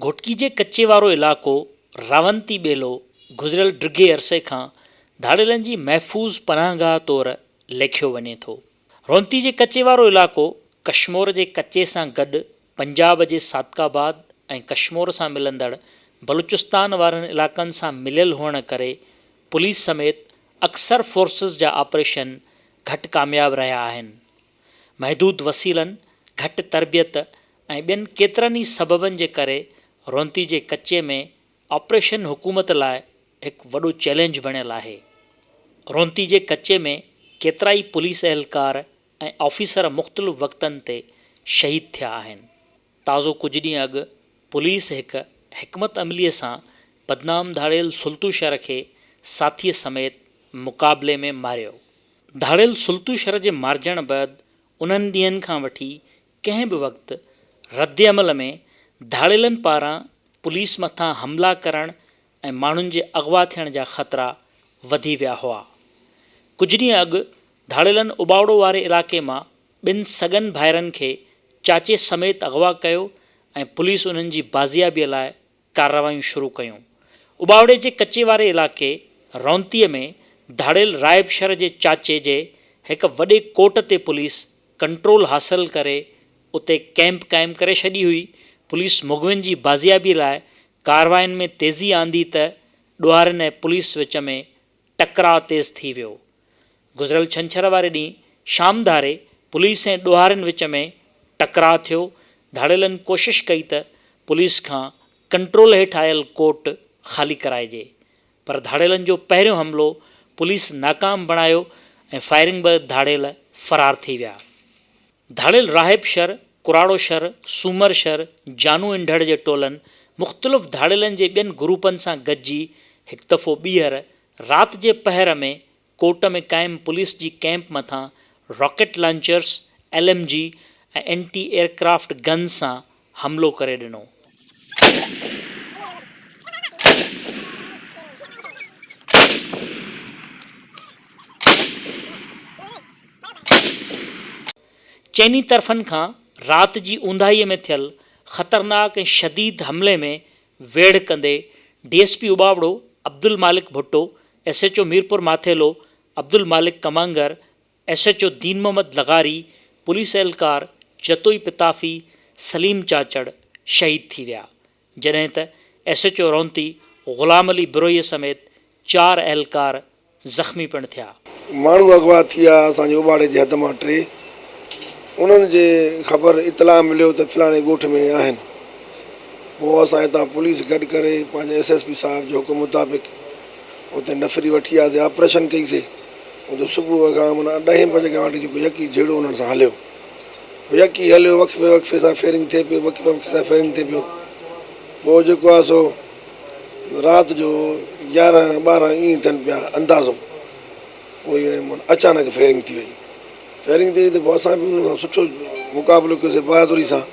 گهوٽڪي جي ڪچي وارو علائقو راونتي ٻيلو گذريل ڊگهي عرصي کان ڌاڙيلن جي محفوظ پناهگاهه طور ليکيو وڃي ٿو. رونتي جي ڪچي وارو علائقو ڪشمور جي ڪچي سان گڏ پنجاب جي صادق آباد ۽ ڪشمور سان ملندڙ بلوچستان وارن علائقن سان مليل هئڻ ڪري پوليس سميت اڪثر فورسز جا آپريشن گهٽ ڪامياب رهيا آهن. محدود وسيلن، گهٽ تربيت ۽ ٻين ڪيترن ئي سببن جي ڪري رونتي جي ڪچي ۾ آپريشن حڪومت لاء هڪ وڏو چئلينج بڻيل آهي. رونتي جي ڪچي ۾ ڪيترائي پوليس اهلڪار ۽ آفيسر مختلف وقتن تي شهيد ٿيا آهن. تازو ڪجهه ڏينهن اڳ پوليس هڪ حڪمت عمليء سان بدنام ڌاڙيل سلطوشهر کي ساٿيء سميت مقابلي ۾ ماريو. ڌاڙيل سلطوشهر جي مارجڻ بعد انهن ڏينهن کان وٺي ڪنهن به وقت ردعمل ۾ ڌاڙيلن پاران پوليس مٿان حملا ڪرڻ ۽ ماڻهن جي اغوا ٿيڻ جا خطرا وڌي ويا هئا. ڪجهه ڏينهن اڳ ڌاڙيلن اٻاوڙو واري علائقي مان ٻن سڳن ڀائرن کي چاچي سميت اغوا ڪيو ۽ پوليس انهن جي بازيابي لاء ڪارروايون شروع ڪيون. اٻاوڙي جي ڪچي واري علائقي رونتي ۾ ڌاڙيل رائبشر جي چاچي جي هڪ وڏي ڪوٽ تي پوليس ڪنٽرول حاصل ڪري اتي ڪئمپ قائم ڪري ڇڏي هئي، پوليس مغوين جي بازيابي لاء ڪاررواين ۾ تيزي آندي ته ڏوهارين ۽ پوليس وچ ۾ ٽڪراء تيز ٿي ويو. گذريل ڇنڇر واري ڏينهن شام ڌاري پوليس ۽ ڏوهارين وچ ۾ ٽڪراء ٿيو، ڌاڙيلن ڪوشش ڪئي ته پوليس کان ڪنٽرول هيٺ آيل ڪورٽ خالي ڪرائجي پر ڌاڙيلن جو پهريون حملو پوليس ناڪام بڻايو ۽ فائرنگ به ڌاڙيل فرار ٿي ويا. ڌاڙيل راهب شھر، ڪراڙو شھر، سومر شھر، جانو انڍڙ جي ٽولن مختلف ڌاڙيلن جي ٻين گروپن سان گڏجي ھڪ دفعو ٻيھر رات جي پهر ۾ ڪوٽ ۾ قائم پوليس جي ڪئمپ مٿان rocket launchers, L M G ۽ anti aircraft guns سان حملو ڪري ڏنو. چئني طرفن کان رات جي اونداهيء ۾ ٿيل خطرناڪ ۽ شديد حملي ۾ ويڙهه ڪندي D S P Ubauro Abdul Malik Bhutto, S H O Mirpur Mathelo Abdul Malik Kamangar, S H O Din Muhammad لغاري، پوليس اهلڪار جتوئي پتافي، سليم چاچڙ شهيد ٿي ويا، جڏهن ته S H O Ronti Ghulam Ali بروهيء سميت چار اهلڪار زخمي پڻ ٿيا. ماڻهو اغوا ٿي ويا اسان جي اوٻاڙي جي حد مان ٽي انهن جي خبر اطلاع مليو ته فلاڻي ڳوٺ ۾ آهن پوء اسان هتان پوليس گڏ ڪري پنهنجي ايس ايس پي صاحب جي حڪم مطابق اتي نفري وٺي آياسي آپريشن ڪئي سي اتي صبح وڳان من ڏهين بجي کان وٺي جيڪو يڪي جهيڙو انهن سان هليو پوء يڪي هليو وقفي وقفي سان فيرنگ ٿئي پيو وقفي وقفي سان فيرنگ ٿئي پيو پوء جيڪو آهي سو رات جو يارهن ٻارهن ائين ٿين پيا اندازو پوء من اچانڪ فيرنگ ٿي وئي فيرنگ ٿي وئي ته پوء اسان بي انهن سان سٺو مقابلو ڪيوسي بهادري سان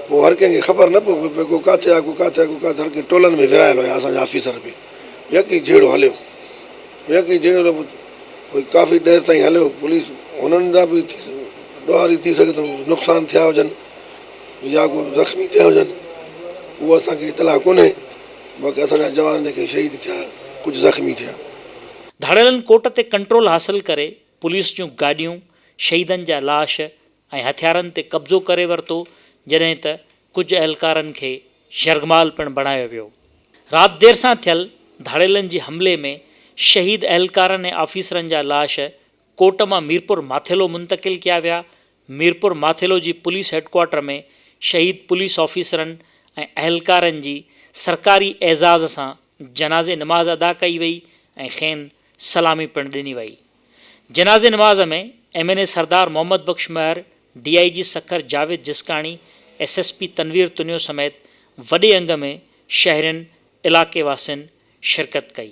پوء هر ڪنهن کي خبر نه پئي پئي ڪو ڪاٿي آهي ڪو ڪاٿي آهي ڪو ڪاٿي هر ڪنهن ٽولن ۾ ورهايل هيا اسان جا آفيسر به يڪي جهيڙو هليو هيء ڪي جهيڙو نه پڇ. پوء ڪافي دير تائين هليو. پوليس هنن جا به ڏوهاري ٿي سگهي ٿو نقصان ٿيا هجن يا ڪو زخمي ٿيا هجن اهو اسان کي اطلاع ڪونهي باقي اسان جا جوان جيڪي شهيد ٿيا ڪجهه زخمي ٿيا. ڌاڙيلن ڪوٽ تي ڪنٽرول حاصل ڪري پوليس جون گاڏيون، شهيدن جا لاش ۽ هٿيارن تي قبضو ڪري ورتو جڏهن ته ڪجهه اهلڪارن کي يرغمال پڻ بڻايو ويو. رات دير سان ٿيل ڌاڙيلن جي حملي ۾ شهيد اهلڪارن ۽ آفيسرن جا لاش ڪوٽ مان ميرپور ماٿيلو منتقل ڪيا ويا. ميرپور ماٿيلو جي پوليس هيڊڪوارٽر ۾ شهيد پوليس آفيسرن ۽ اهلڪارن جي سرڪاري اعزاز سان جنازي نماز ادا ڪئي وئي ۽ کين سلامي پڻ ڏني وئي. جنازي نماز ۾ M N A Sardar Muhammad Bakhsh Mahar, D I G Sukkur Javed Jiskani, S S P Tanveer Tunio سميت وڏي انگ ۾ شهرين، علائقي واسين شرڪت ڪئي.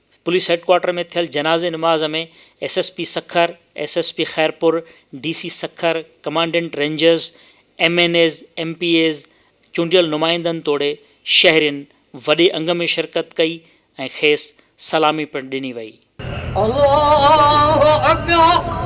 پوليس هيڊ ڪوارٽر ۾ ٿيل جنازي نماز ۾ S S P Sukkur, S S P Khairpur, D C Sukkur, commandant rangers, M N As, M P As, چونڊيل نمائندن توڙي شهرين وڏي انگ ۾ شرڪت ڪئي ۽ کيس سلامي پڻ ڏني وئي. الله اڪبر.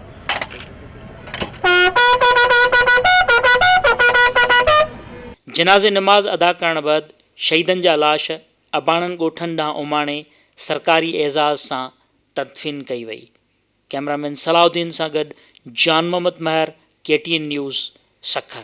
جنازي نماز ادا ڪرڻ بعد شهيدن جا لاش اباڻن ڳوٺن ڏانهن اماڻي سرڪاري اعزاز سان تدفين ڪئي وئي. ڪئميرا مين صلاح الدين سان گڏ Jan Muhammad Mahar K T N news Sukkur.